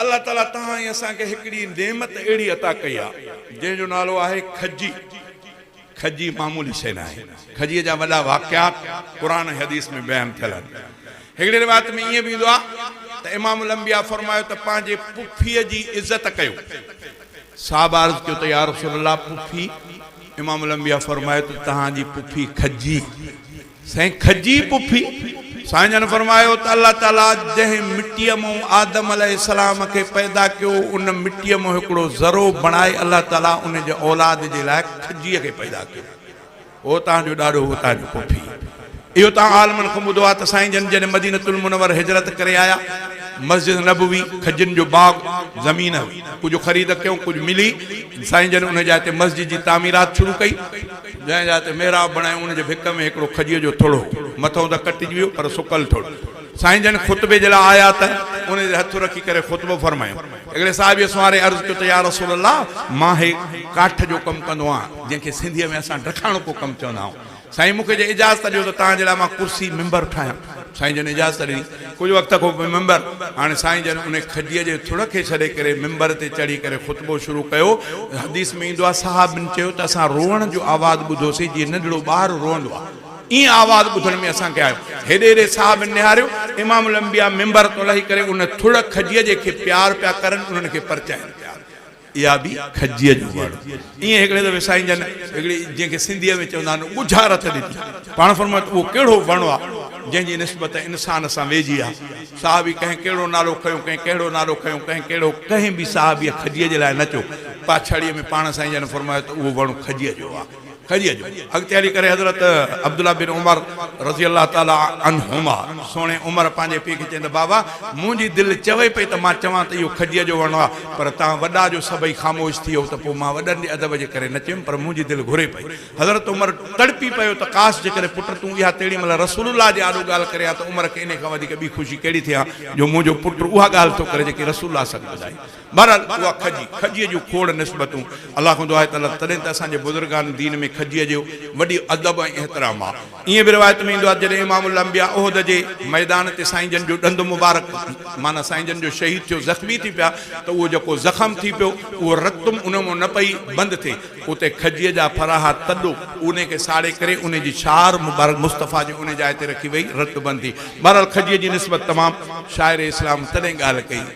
الله تعالي توهان ۽ اسان کي هڪڙي نعمت اهڙي عطا ڪئي آهي جنهن جو نالو آهي کجي. کجي معمولي شيء ناهي. کجيء جا وڏا واقعات قرآن ۽ حديث ۾ بيان ٿيل آهن. هڪڙي روايت ۾ ائين به ايندو آهي ته امام الانبياء فرمايو ته پنهنجي پڦيء جي عزت ڪيو. صحابه عرض ڪيو ته يارسول الله پڦي؟ امام الانبياء فرمايو ته توهان جي پڦي کجي. سائين کجي پڦي سائين جن فرمايو ته الله تعالي جنهن مٽيء مئون آدم عليه السلام کي پيدا ڪيو ان مٽيء مئون هڪڙو ذرو بڻائي الله تعالي ان جي اولاد جي لاء کجيء کي پيدا ڪيو هو تان جو ڏاڏو هو تان جو پڦي اهو تان عالمن کان ٻڌو آهي ته سائين جن جڏهن مدينة المنور هجرت ڪري آيا مسجد نبوي کجين جو باغ زمين هئي ڪجهه خريد ڪيون ڪجهه ملي سائين جن ان جاء تي مسجد جي تعميرات شروع ڪئي جنهن جاء تي محراب بڻايو، ان جي ڀت ۾ هڪڙو کجيء جو ٿڙ هو. مٿئون ته ڪٽجي ويو، پر سڪل ٿڙ. سائين جن خطبي جي لاء آيا ته ان تي هٿ رکي ڪري خطبو فرمايو. هڪڙي صحابيء سنواري عرض ڪيو ته يا رسول الله! مان هي ڪاٺ جو ڪم ڪندو آهيان، جنهن کي سنڌيء ۾ اسان ڊکاڻڪو ڪم چوندا آهيون. سائين مون کي جي اجازت ڏيو ته توهان جي لاء مان ڪرسي، منبر، ٺاهيان. سائين جن اجازت ڏني. ڪجهه وقت کان پوء ممبر هاڻي سائين جن انهي کجيء جي ٿڙ کي ڇڏي ڪري ممبر تي چڙهي ڪري خطبو شروع ڪيو. حديث ۾ ايندو آهي، صحابين چيو ته اسان روئڻ جو آواز ٻڌوسين جيئن ننڍڙو ٻار روئندو آهي. ائين آواز ٻڌڻ ۾ اسان کي آيو. هيڏي هيڏي صحابين نهاريو. امام الانبياء ممبر تان لهي ڪري ان ٿڙ کجيء جي کي پيار پيا ڪرن، انهن کي پرچائين پيا. اها به کجيء جو وڙ ائين هڪڙي دفعي سائين جن هڪڙي جنهن کي سنڌيء ۾ چوندا آهن ڳجها رٿ ڏني. پاڻ فرمايو ته اهو ڪهڙو وڻ آ، جنهن جي نسبت انسان سان ويجهي آ. صحابي ڪنهن ڪهڙو نالو کنيو، ڪنهن ڪهڙو نالو کنيو، ڪنهن ڪهڙو. ڪنهن به صحابيء کجيء جي لاء نه چيو. پاڇاڙيء ۾ پاڻ سائين جن فرمايو ته اهو وڻ کجيء جو آ. ڪري جو اڳتي هلي ڪري حضرت عبدالله بن عمر رضي الله تعالٰي عنهما سهڻي عمر پنهنجي پيء کي چيائين ته بابا منهنجي دل چوي پئي ته مان چوان ته اهو کجيء جو وڻ آهي پر توهان وڏا جو سڀئي خاموش ٿي ويئو ته پوء مان وڏن جي ادب جي ڪري نه چيم پر منهنجي دل گهري پئي حضرت عمر تڙپي پيو ته ڪاش جيڪڏهن پٽ تون اها تيڙي مهل رسول الله جي آڏو ڳالهه ڪري ها ته عمر کي انهي کان وڌيڪ ٻي خوشي ڪهڙي ٿئي ها جو منهنجو پٽ اها ڳالهه ٿو ڪري جيڪي رسول الله ص ٻڌائي بهرحال اها کجي، کجيء جون کوڙ نسبتون، الله کان دعا ته الله تڏهن ته اسان جي بزرگان دين ۾ کجيء جو وڏي ادب ۽ احترام آ. ائين به روايت ۾ ايندو آ ته جڏهن امام الانبياء احد جي ميدان تي سائين جن جو ڏند مبارڪ معنيٰ سائين جن جو شهيد ٿيو زخمي ٿي پيا ته اهو جيڪو زخم ٿي پيو اهو رتم ان مان نه پئي بند ٿئي اتي کجيء جا ڦراها تڏو انهي کي ساڙي ڪري انهي جي شعار مبارڪ مصطفيٰ جي انهي جاء تي رکي وئي رت بند ٿي. بهرحال کجيء جي نسبت تمام شاعر اسلام تڏهن ڳالهه ڪئي.